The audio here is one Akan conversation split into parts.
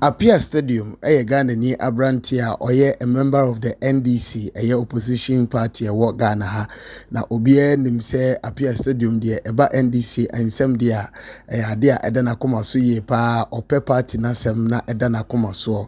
Appiah Stadium yɛ Ghanani aberanteɛ a ɔyɛ a member of the NDC, ɛyɛ opposition party a ɛwɔ Ghana ha. Na obiara nim sɛ Appiah Stadium deɛ ɛba NDC nsɛm deɛ a, ɛyɛ adeɛ a ɛda n'akoma so yie paa. Ɔpɛ party no asɛm na ɛda n'akoma soɔ.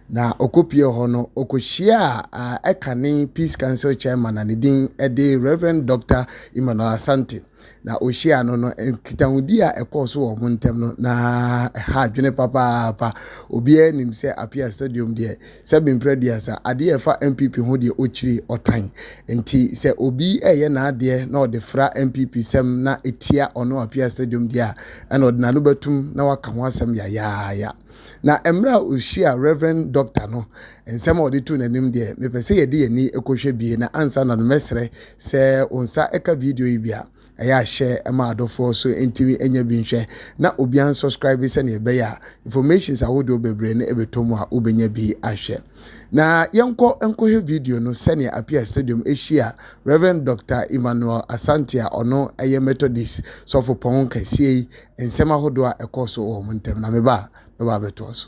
Na ɔkɔpuee hɔ no, ɔkɔhyiaa ɛkane Peace Council Chairman a ne din de Rev. Dɔkta Emmanuel Asante. Na ɔhyiaa no no, nkitahodi a ɛkɔɔ so wɔ wɔn ntam no, na ɛha adwene papaapa. Obiara nim sɛ Apia Stadium deɛ, sɛbe mprɛ aduasa, adeɛ a ɛfa NPP ho deɛ ɔkyiri ɔtan. Nti sɛ obi reyɛ n'adeɛ na ɔde fra NPP sɛm na ɛtia ɔno Apia Stadium deɛ a, ɛna ɔde n'ano bɛtom na waka ho asɛm yayaaya. Na mmerɛ a ɔhyiaa Rev. Dɔkta no, nsɛm a ɔde too n'anim deɛ, mepɛ sɛ yɛde yɛn ani kɔhwɛ bie, na ansa na no mɛsrɛ sɛ wo nsa ka video yi bi a, ɛyɛ a hyɛ ma adɔfoɔ so ntumi nya bi nhwɛ, na obiara nsɔskraibe sɛdeɛ ɛbɛyɛ a informations ahodoɔ bebree no bɛtɔ mu a wobɛnya bi ahwɛ. Na yɛnkɔ nkɔhwɛ video no sɛdeɛ Apia Stadium hyia Rev. Dɔkta Emmanuel Asante a ɔno yɛ Methodist sɔfopɔn kɛseɛ yi nsɛm ahodoɔ a ɛkɔɔ so wɔ wɔn ntam na meba a mɛba abɛtoa so.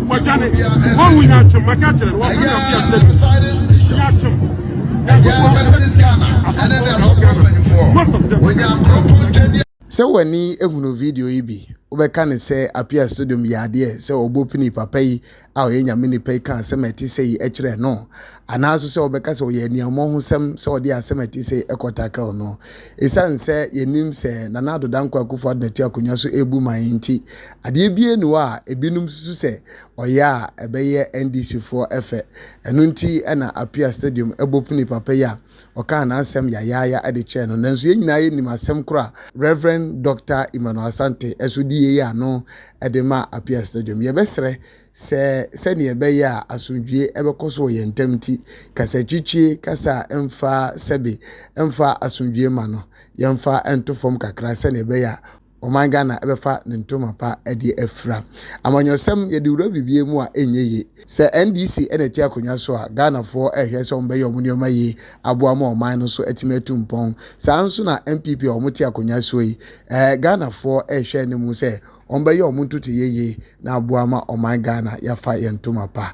wɔdwane wɔnwu nyaatwom maka akyerɛ no wɔfrɛ no ɔbea sɛ nyaatwom sɛ w'ani ehunu video yi bi wobɛka ne sɛ apia stadium yɛ adeɛ sɛ ɔbɔ pini papa yi a ɔyɛ nyame nipa yi ka asɛm a ɛte sɛ yi kyerɛ no anaaso sɛ wobɛka sɛ ɔyɛ aniammɔ ho sɛm sɛ ɔde asɛm a ɛte sɛ yi ɛkɔtakel no ɛsiane sɛ yɛnim sɛ nana adodankɔ akufo ado natu akonnwa so ɛbu man nti Adeɛ biara nni hɔ a ebinom susu sɛ ɔyɛ a ɛbɛyɛ NDCfoɔ fɛ. Ɛno nti na Apia Stadium bopnee papa yi a ɔkaa n'asɛm yayaaya de kyɛɛ no. Nanso yɛn nyinaa yɛnim asɛm koro a Rev. Dɔkta Emmanuel Asante nso de yei ano de maa Apia Stadium. Yɛbɛsrɛ sɛ sɛdeɛ ɛbɛyɛ a asomdwoeɛ bɛkɔ so wɔ yɛn ntam nti, kasatwitwie kasa a ɛmfa sɛbe mfa asomdwoeɛ ma no, yɛmfa nto fam kakra sɛdeɛ ɛbɛyɛ a, ɔman Ghana bɛfa ne ntoma pa de afira. Amanyɔsɛm, yɛde wura biribiara mu a ɛnyɛ yie. Sɛ NDC na ɛte akonnwa so a, Ghanafoɔ rehwɛ sɛ wɔbɛyɛ wɔn nneɛma yie aboa ma ɔman no so atumi atu mpɔn. Saa ara nso na NPP a wɔte akonnwa soɔ yi, ɛɛ, Ghanafoɔ rehwɛ anim sɛ wɔbɛyɛ wɔn ntotoeɛ yie na aboa ma ɔman Ghana yɛafa yɛn ntoma pa.